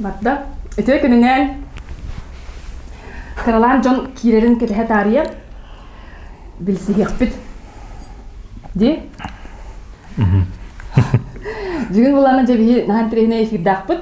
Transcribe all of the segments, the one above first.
Барда. Үтүө күнүнэн Каралаан дьон киирэрин кэтэһэ таарыйа билсиһиэхпит ди бүгүн булана дьэбиһи наһан тирehинэ эфирдаахпыт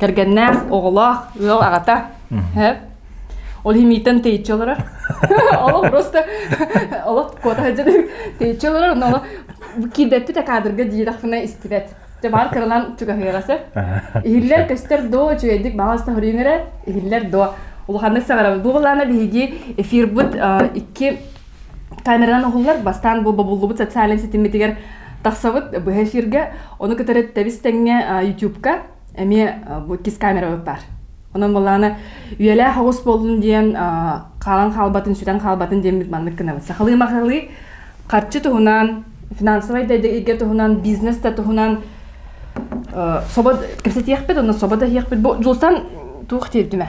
Кэргэннээх, оҕолоох, ыал аҕата. Ол химийтэн тэйиччи олорор. Олох просто олох куота сылдьар тэйиччи олорор, но киирдэппит каадырга диирахпына истибэт. Баар кырылан чугаһыаҕаса. Иһиллэр көстөр до үчүгэйдик баҕас таһырыыҥырэ, иһиллэр до. Улаханнык саҕарабыт. Бу балаана биһиги эфирбыт икки камеранан уһуллар бастаан бу бобуллубут социальнай ситиммитигэр тахсабыт быһа эфиргэ ону кытары тэбис тэҥҥэ ютубка эмиэ бу иккис камерабыт баар онон буолаана үйэлээх оҕус болдун диэн хаалан хаалбатын сүтэн хаалбатын диэммит маннык гынабыт сахалыы махалыы харчы туһунан финансовай дэйдэгииргэ туһунан бизнес да туһунан собо кэпсэтиэхпит онно собо да иһиэхпит бу дулсан туох диэбитимэ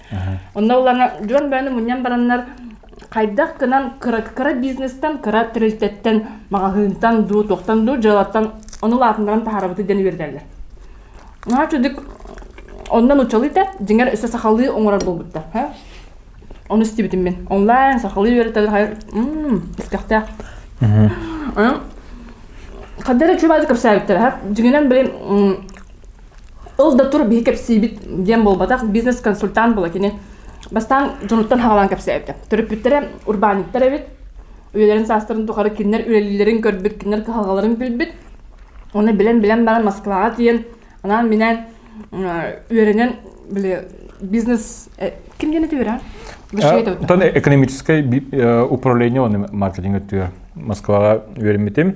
Онно ылана дьон бэйэни мунньан бараннар хайдах гынан кыра, кыра бизнестан, кыра тэрилтэттэн, маҕаһыынтан дуу, туохтан дуу дьыалаттан ону улаатыннаран таһаарабыт диэн үөрэтэллэр. Наһаа чудик онно нуччалыыта дьиҥэр өссө сахалыы оҥорор буолбуттар. Ону истибитим мин. Онлайн сахалыы үөрэтэр искэхтээх. Хаддара чуубаады кэпсээбиттэр. Дьиҥинэн, блин, Ол да тур биһи кэпсиибит диэн буолбатах, бизнес-консультант була кини. Бастаан дьонуттан хаҕалаан кэпсээбитэ. Төрөппүттэрэ урбаанньыттар эбит. Үйэлэрин саастарын тухары кинилэр үлэлииллэрин көрбүт, кинилэр кыһалҕаларын билбит. Оны билэн-билэн баран Москваҕа тиийэн анаан-минээн үөрэнэн били бизнес ким диэн этиэра? Оттон экономическай управление он маркетинг өттүгэр Москваҕа үөрэммитим.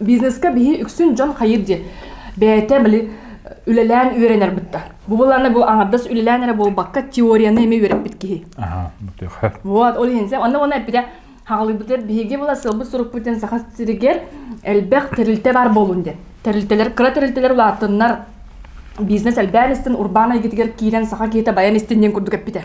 Бизнеска биһи үксүн дьон хайыр диэн бэйэтэ били үлэлээн үөрэнэр бутта. Бу быланы бу аңардас үлэлээн эрэ буолбакка теорияны эми үөрэппит киһи. Аха, Вот, ол иһин сэ, онно оны эппитэ хагалыбытыр биһиги була сылбы сурукпутын саха сиригер элбэх тэрилтэ бар болун ден. Тэрилтелер кыра тэрилтелер улааттыннар бизнес элбээн истин урбаан айгытыгар киирен саха киһите баян истин ден курдук эппитэ.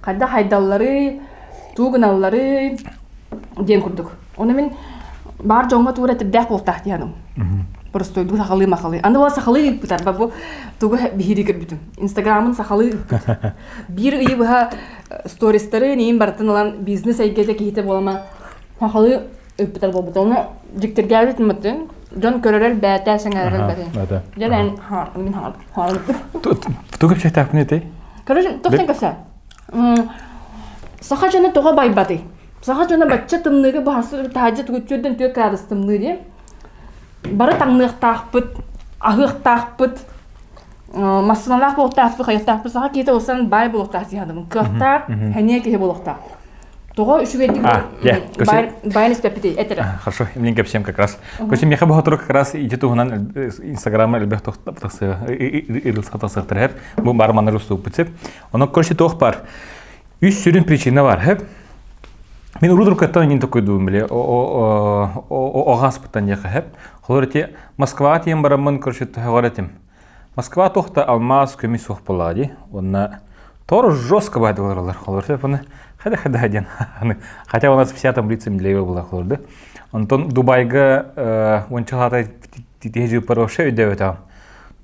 хайда хайдалларый, туу гыналларый диэн курдук. Ону мин баар дьоҥҥо туура этирдээх буолтаах диэхэм. Простойдук сахалыы махалыы. Аны буола сахалыы ыыппытар ба бу тугу биһирии көрбүтүм. Инстаграмын сахалыы ыыппыт. Биир ыйы быһа э, стористары нейин барытын ылан бизнес эйгэтэ киһитэ буолама сахалыы ыппыттар буолбута ону дьиктиргээбит маттын дьон көрөрөр бээтэ сэҥээрэр бэтин дьэлэн мин хаҕарбыппын тугу чэйтаахпын этэй короче тоқтан каса саха дьоно тоҕо байбатый саха дьоно бачча тымныыга баһарсыр таһаджа тугутчүөрден түө кырадыс тымныы диэн бары таҥныахтаахпыт аһыахтаахпыт массыыналаах буолтаахпыт хайыахтаахпыт саха киһитэ олсан бай буолуохтаах дии кыахтаах хэниэ киһи буолуохтаах Тоҕо үчүгэйдик байан испэппитий этэрэ. Хорошо. Именно всем как раз. Короче, меха бухатура как раз иди туһунан Инстаграма элбэх тахсыа, ырылсатасыртарар. Бу бар манар уступпутсеп. Оно, короче, тоқ бар. Үс сүрүн причина бар. Мен урудуркаттан нин такой думал, о гааспыттан яхахеп. Холорти Москва тем бараммын, короче, тахаратим. Москва туох да алмаас көмүс суох буоллаҕа дии уонна Тор жестко баһа олороллор холорсо паны хада хада диэн хотя у нас вся там лица медлеева была холорда онтон Дубайга онча хата тиһэжи пароша өйдөөбөтөҕүм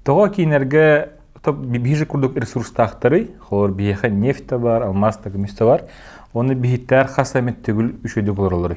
тоҕо киинэргэ биһиже курдук ресурстаахтары холор биһиэхэ нефть да бар алмаас да көмүс да бар уонна биһиттэр хас эмит төгүл үшөйдү болороллор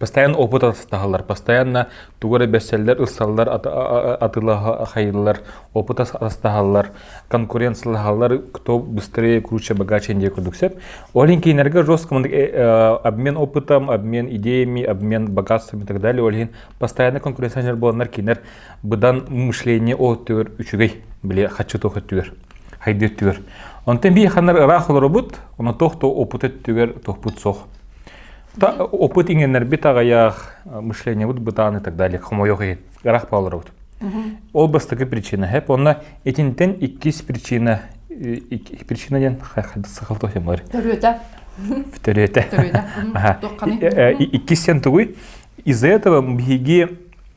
Бастайан опыт атастаһаллар, бастайанна тугу эрэ билсэллэр, ылсаллар, атыылаһаллар, опыт атастаһаллар, конкуренциялаһаллар, кто быстрее, круче, богаче диэн курдук сөп. Ол иһин кинилэргэ жестко обмен опытом, обмен идеями, обмен богатством и так далее. Ол иһин постоянно конкуренциялар буоланнар кинилэр быдан мышление оттүгэр үчүгэй били хаччы туох өттүгэр хайды өттүгэр. Онтон би ханнар ыраах олоробут, оно тох то опыт өттүгэр тохпут сох. опыт иҥеннэрбит аҕыйах мышлениебут бытаан и так далее хомойох гарах палларовут ол бастакы причина хэп онна этинтен иккис причина причина диэн сахал тохемар төрүөтэ төрүөтэ иккистен тугуй из-за этого биһиги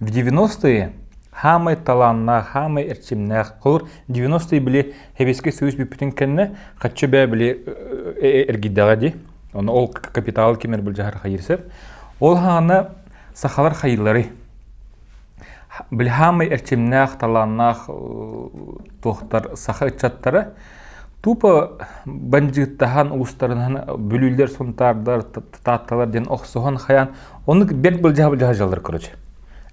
В 90-е хаамай талааннаах, хаамай эрчимнээх, холур 90-е били Сэбиэскэй Союз бүппүтүн кэннэ хаччы бээ били эргийдэҕэ ди. Оны ол капитал кимер бұл жахар хайырсып. Ол хаана сахалар хайылары. Били хаамай эрчимнээх, талааннаах туохтар саха ыччаттара Тупо бандьыыттаһан уустарынан бүлүүлэр сунтаардар таатталар диэн охсуһан хайаан оннук бэрт былдьаһа былдьаһа дьаллар короче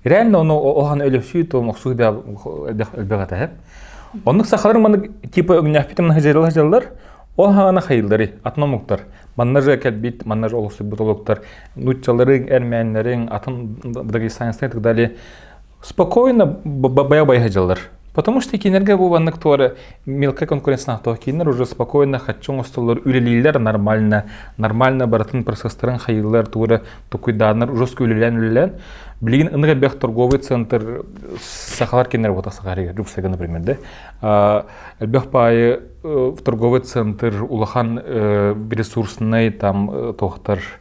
реально ону охан өлөсүү туом охсуу элбэҕэтэ оннук сахалар маннык типа өгнөөхпитим наһыдьалла дьаллар ол хаана хайыллары атномуктар манна же кэлбит манна же олохсуйбут олуктар нуччалары эрмээннэрин атын дагестанскай так далее спокойно бабайа-бабай сылдьаллар потому что кинилэргэ бу маннык туора мелкая конкуренциянаах то кинилэр уже спокойно хочу оҥостоллор үлэлииллэр нормально нормально барытын процесстарын хайыылар туора тукуйдааннар ужаска үлэлээн үлэлээн билигин ынық элбэх торговый центр сахалар кинилер работа сахарыгар жуксага например да элбэх паайы торговый центр улахан ресурснай там тоқтар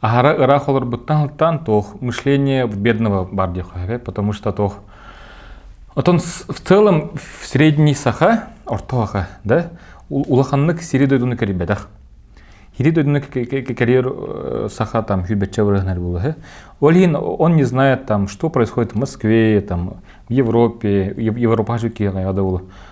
Аһара ыраах олорбуттан сылтаан туох мышление в бедного бар диэххэ потому что туох Отон в целом в средний саха орто саха да улаханнык сири дойдуну кэрийбэтэх Хири дойдуну кэрийэр саха там хүбэтчэ бырыһынар булаһы Ол иһин он не знает там что происходит в Москве там в Европе Европа жүккиэҕэ да ол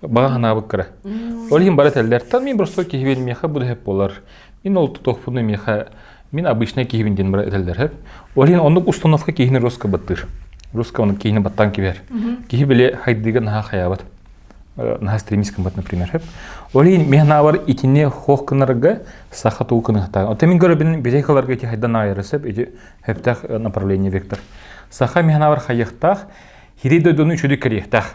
баҕа санаабыт кыра ол иһин бары этэллэр та мин простой киһибин миэхэ бу дэһэп буолар мин ол тутуохпуну миэхэ мин обычнай киһибин диэн бары этэллэр эһэп ол иһин оннук установка киһини роска баттыыр руска оннук киһини баттаан кибэр киһи били хайдыыга наһаа хаyaабат наһаа стремись гыммат например эһэп ол иһин мен наабар итини хох гынарга саха туу кыныһтаа оте мин көрөбүн битейкаларга ити хайдан аайырысып ити хэптах направление вектор саха мен наабар хайыхтаах хирей дойдуну үчүдү кэриэхтаах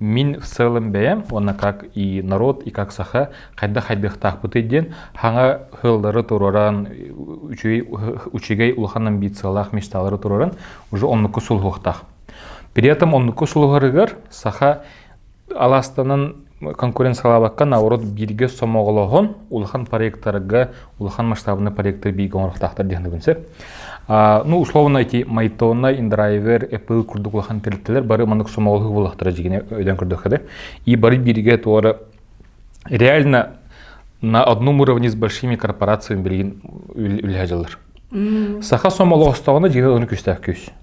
Мин в целом бэйэм уонна как и норуот, и как саха хайдах хайдыахтаахпытый диэн хаҥа ыһыллары туруоран, үчүгэй, учугэй улахан амбициялаах мечталары туруоран уже оннуку сулуһуохтаах. При этом оннуку сулуһарыгар саха алаастанан конкуренциялаабакка наоборот бииргэ сомоҕолоһон улахан проекттарга улахан масштабный проекты бииргэ оҥорохтаахтар диэхнэбин сөп ну условно эти майтонна индрайвер apple курдук улахан тэрилтэлэр бары маннык сомоҕолоһуу буолахтара дьигине өйдөөн көрдөхкө и бары бииргэ туора реально на одном уровне с большими корпорациями билигин үлэһэ дьыллар саха сомоҕостоҕуна дьиэ оны күстээх күс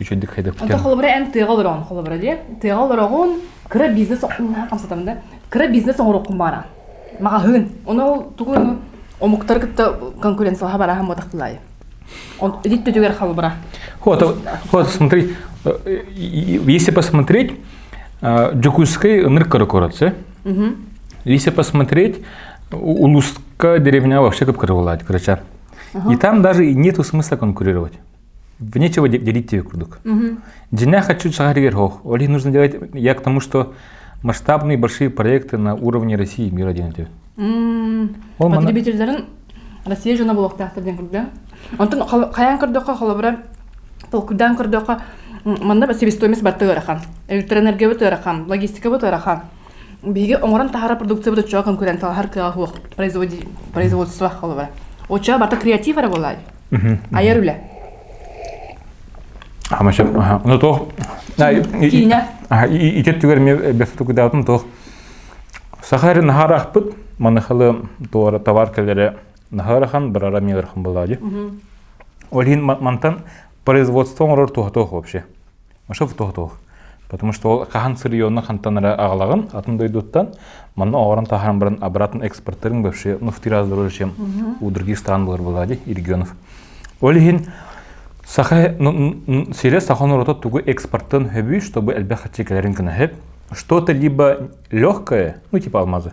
үчүгэйдик хайдаппытым. Онто холобура эн тыаҕа олороҕун холобура диэ. Тыаҕа олороҕун кыра бизнес хамсатам да. Кыра бизнес оҥороххун баара. Маҕаһыын. Ону тугу омуктары кытта конкуренцияҕа бараһан батахтылай. Он идит түгэр халбара. Вот, вот, смотри, если посмотреть, Джакузский ныркорокоротse. Если посмотреть, Улузка деревня вообще как владь, короче. И там даже нету смысла конкурировать. нечего делить тебе курдук. Жена хочу сахаригер хох. Оле нужно делать я к тому, что масштабные большие проекты на уровне России и мира делать. Потребительдерин Россия жана болуктахтар ден курда. Онтон каян көрдөхө холобура толкудан көрдөхө манна себестоимость бартыгырахан, электроэнергия бытырахан, логистика бытырахан. биһиги оҥорон таһаарар продукциябыт оччоҕо көрөн талаһар кыаҕа суох производство холобура оччоҕо барыта креатив эрэ буолаай айар үлэ ну туох ити өттүгэр мне бесатугдаатым туох сахар наһарахпыт манахалы туора товар кэллere наһарахан барара миэрхан булади олин мантан производство оңорор туһатоох вообще Ошов тоһутуох. Потому что ол хаһан сырьённо хантанара аҕалаҕын атын дойдуттан манна оҕорон таһаран баран обратно экспортерин вообще ну в три раза дороже чем у других стран былыр былади регионов. Ол иһин саха сире саха народа тугу экспорттан хөбүй чтобы элбэх хаччекелерин кына хөп что-то либо легкое ну типа алмазы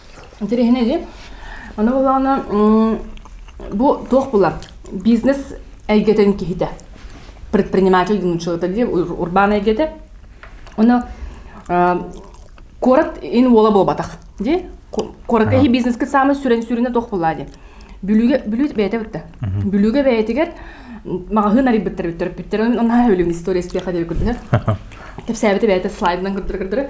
Интэриэһинэйи. Аны болаана бу туох булар? Бизнес эйгэтин киһитэ. Предприниматель диэн человек дии урбаан эйгэтэ. Оны куорат ин уола буолбатах дии. Куорат эһи бизнескит саамай сүрэн сүрүнэ туох булаа дии. Бүлүүгэ бүлүү бэйэтэ битте. Бүлүүгэ бэйэтигэр маҕаһыын арыйбыттар бүттэр бүттэр. Онна өлүм история эспиэхэ деп көрдө. Кэпсээбити бэйэтэ слайдынан көрдөрө көрдөрө.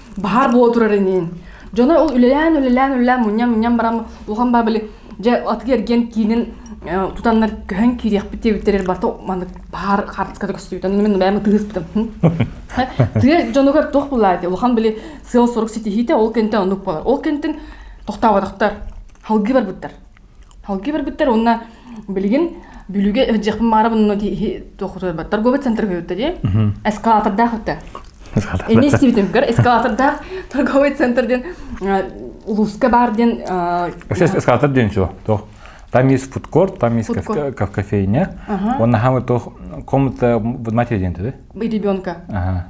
баһаар буола турар инин дьоно ол үлэлээн үлэлээн үлэлээн мунньан мунньан баран улахан баа били дьэ атыгы эргиэн киинин тутаннар көһөн киириэхпит диэбиттэрэр барта маннык баһаар хаартыската көстүбүтэн мин бэйэм тыыспытым тыа дьонугар туох булаати улахан били сыал сорук ситиһиитэ ол кэнтэн оннук болар ол кэнтин тохтооботохтор халгы барбыттар Халки барбыттар уонна билигин бүлүгэ өһдьэхпин маарабын но туохутуйбат торговый центр көрүттэ эскалатордаах өттө Ини истибитимгэр эскалатордаах торговый центр диэн улууска баар диэн Вообще эскалатор диэн чего? Там есть фудкорт, там есть кофейня. Он наһаа то комната матери диэн да? Ребенка.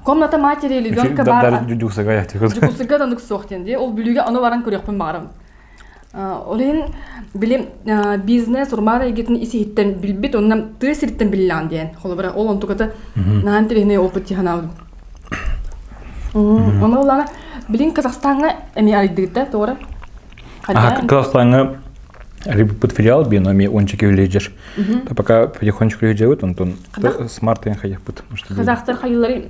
Комната матери ребенка бар. Дюсага я тихо. Дюсага танук сох диэн. Ол бүлүгэ аны баран көрүөхпүн баарам. Ол иһин били бизнес урумаан эйгэтин ис-иһиттэн билбит уонна тыа сириттэн биллэҕин диэн. Холобура ол онтуката наһаа интэриэһинэй опыт дии санаабытым. Ону ылаана билин Казахстаҥҥа эмиэ арыйдыыта тоҕо эрэ. Казахстаҥҥа арыйбыппыт филиал биэн ами ончики үлежер. Пока потихонечку үлежэбит, онтон смарт ян хаякпыт. Казахтар хайылары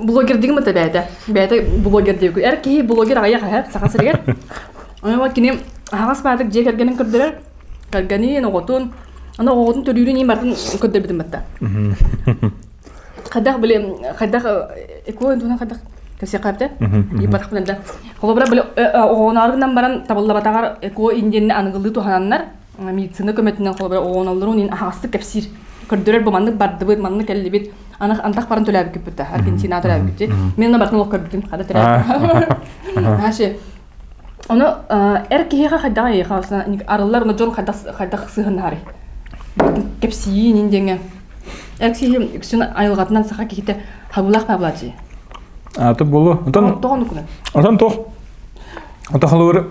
блогердигим это бэйэтэ бэйэтэ блогер диэки эр киһи блогер аҕыйах аһа саха сиригэр онон кини аһаҕас баатык дьиэ кэргэнин көрдөрөр кэргэнин оҕотун ана оҕотун төрүүрүн им барын көрдөрбүтүм батта хайдах биле хайдах экоо үндүнэн хайдах кэсиэкаапта ипатах билэнде холобура биле оҕонаарынан баран табыллабатаҕар эко индиэнни аныгылыы туһананнар медицина көмөтүнэн холобура ооналларын иин аһаҕастык кэпсиир көрдөрөр бу маннык бардыбыт маннык кэллибит анах антах баран төлөөбүккүппүт аргентина төлөөбүккүт мен ана бартын олох көрбүтүм хада төлөөбүт наши ону эр киһиэхэ хайдаҕа эйиэхэ арыллар ону дьон хайдах хайдах сыһыннарый кэпсиин индиҥе эр киһи үксүн айылҕатынан саха киһитэ хабылах баблачи аты болу отон отон тух отон тух отон холур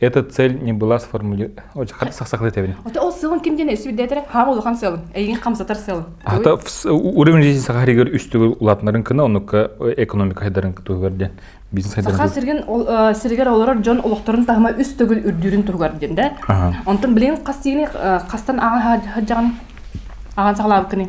Эта цель не была сформулирована. Хата сахсахлы тебин. Ото ол сылын ким диэн өсүрдэтер хаам улахан сылын. Эйин хамсатар сылын. Ата уровень жизни сахаригер үстүлü улатнарын кына оннукка экономика хайдарын тугар ден. Бизнес хайдарын. Саха сирген сиргер олорор дьон олохторун тахма үстөгүл үрдүрүн тугар ден да. Онтон билин хастыгын хастан ааҕа хаджаган ааҕан сахалабыкыны.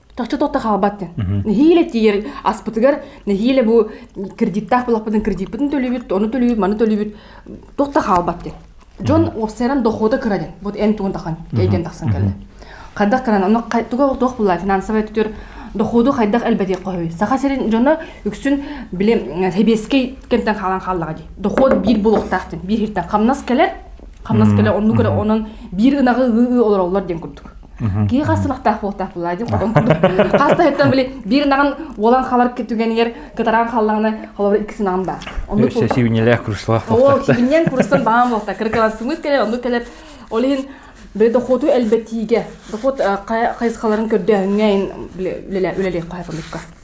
тохто тохто хаалбаттын нэһиилэ тиийэр аспытыгар нэһиилэ бу кредиттаах булахпытын кредитпытын төлүүбүт ону төлүүбүт маны төлүүбүт тохто хаалбаттын дьон уопсайынан дохуота кырадын вот эн тугун тахан эйден тахсан келде хайдах кыран ону туга туох булла финансовый түтүр доходу хайдах элбэти коһуй саха сирин дьоно үксүн биле себескей кемтен хаалан хааллаға ди доход бир булуктаахтын бир хиртен камнас келер камнас келер онну көрө онон бир ынагы ыы олороллор ден курдук киһи хас сылахтаах буолтаахпылаа дим хотон курдук хас таһыттан били биир ынаҕын уолан халар түгэнигэр кытараан халлаҕына холобура иккис ынаҕым баар оннук Үксэ сибинилээх курсалаах ол буолтахта. сибинньэн курустан баам буолта кырыкылан сымыыс кэлэр оннук кэлэр ол иһин били дохуоту элбэтиигэ дохуот хайысхаларын көрдөөһүҥҥэ үлэлиэх хоһайпалыкка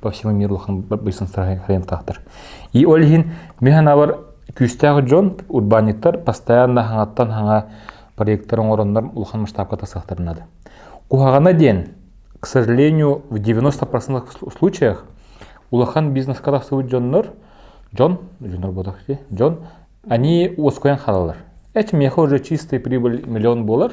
по всему миру улахан быйсын хайынтахтар. И ол иһин ми ханабар күүстээх дьон урбаанньыттар постоянно хаҥаттан хаҥа проекттар оҥороннор улахан масштабката сахтарынады. Куһаҕана диэн, к сожалению, в 90% случаях улахан бизнеска тахсыбыт дьоннор, дьон, дьоннор ботахти, дьон, они уоскуйан халалар. Эти меха уже чистые прибыль миллион болар,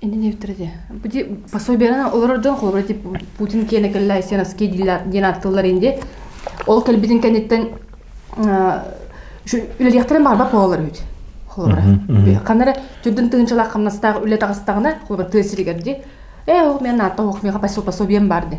Indi диэбиттэрэ пособиерынан олорор дьон холобура тип Путин киэнэ кэллэ Сеновский диэн аттылар инде ол кэлбитин кэнниттэн үлэлиэхтэрин барбат буолалар үһүт холобура ханна эрэ түрдүн тыһынчалаах хамнастаах үлэ таҕыстаҕына холобура тыа сиригэр ди э ол мен наатта ох меха пособием бар ди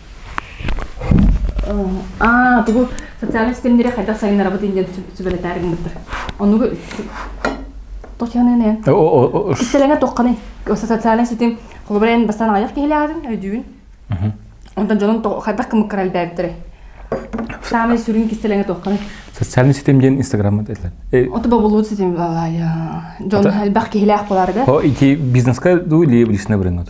Аа, тугу социальнай ситимнэри хайдах сайыннарабыт инде сүбэлэтээр гыммыттар. Онугу Татьяна Истэлэҥэ тоққаны социальный ситим холобурен бастан аяқ киһилээҕин өйдүүн. Онтон дьонун хайдах кымыккара элбээбиттэрэ. Саамай сүрүн кистэлэҥэ тоққаны. Социальный ситим диэн инстаграмма этилэр. Оту бобулуут ситим дьон элбэх киһилээх боларга. О, ити бизнеске дуу или личный бренод?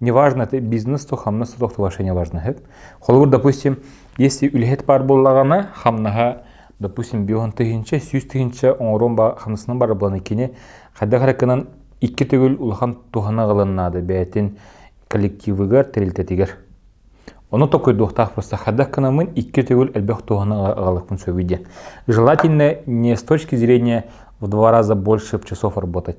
неважно это бизнес то хамнас то товаршение важно эт холобур допустим если үлэһит баар буоллаҕына хамнаһа допустим бион тыһынча сүүс тыһынча оҥорон ба хамнасынан бар буланы кини хайдах эрэ кынан икки төгүл улахан туһана ылыннаады бэйэтин коллективыгар тэрилтэтигэр ону токойдуохтаах просто хайдах кынамын икки төгүл элбэх туһана аҕалыкпын сөбүй диэн желательно не с точки зрения в два раза больше часов работать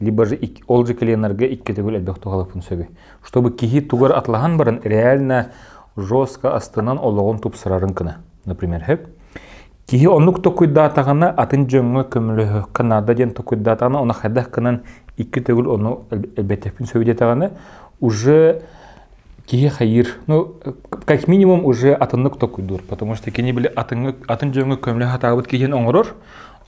либо же ол же коленарга икки төгүл элбэх туһалаппын сөбү чтобы киһи тугар атлаһан баран реально жестко астынан олоҕун тупсарарын кына например хөп киһи оннук токуйдаатаҕына атын дьоҥҥо көмөлөһөххө наада диэн токуйдаатаҕына оны хайдах кынан икки төгүл ону элбэттэхпин сөбү диэтэҕинэ уже киһи хайыр ну как минимум уже атыннык токуйдуур потому что кини били атынга атын дьоҥҥо көмөлөһө атаабыт киһини оҥорор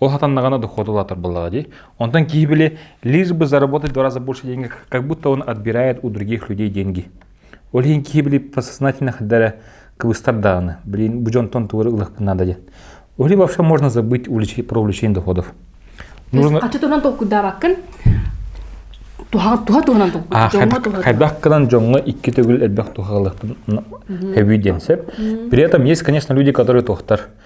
Ол хатан даҕаны дохуот улаатар буоллаҕа дии. Онтон киһи били лишь бы заработать в два раза больше денег, как будто он отбирает у других людей деньги. Ол иһин киһи били подсознательно хадара кыбыстар дааны. Блин, бу дьонтон туора ылахпын наада диэн. Oli вообще можно забыть про увеличение доходов. Нужно... Хачы туран толкуйдаабаккын туһа туһунан толкуй хайдах кынан дьоҥҥо икки төгүл элбэх тухалыктын хэби диэн сеп при этом есть конечно люди которые тохтар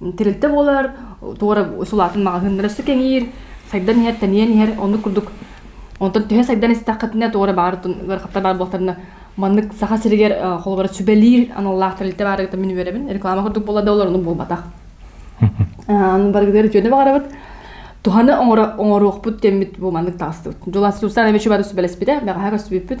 Тэрилтэ буолар туора сулаатын маҕаһыыннара өссө кэҥиир, сайдан иһэр, тэнийэн иһэр оннук курдук. Онтон түһэн сайдан истэххитинэ туора баар ыарахаттар баар буолтарына маннык Саха сиригэр холобура сүбэлиир аналлаах тэрилтэ баарыгар мин үөрэбин. Реклама курдук буолла да олор ону буолбатах. Аны барыгытыгар үтүөнү баҕарабыт. Туһаны оҥоруохпут диэммит бу маннык таҕыстыбыт. Дьулассуустан эмиэ сүбэлэспитэ, бэҕэһээ көрсүбүппүт.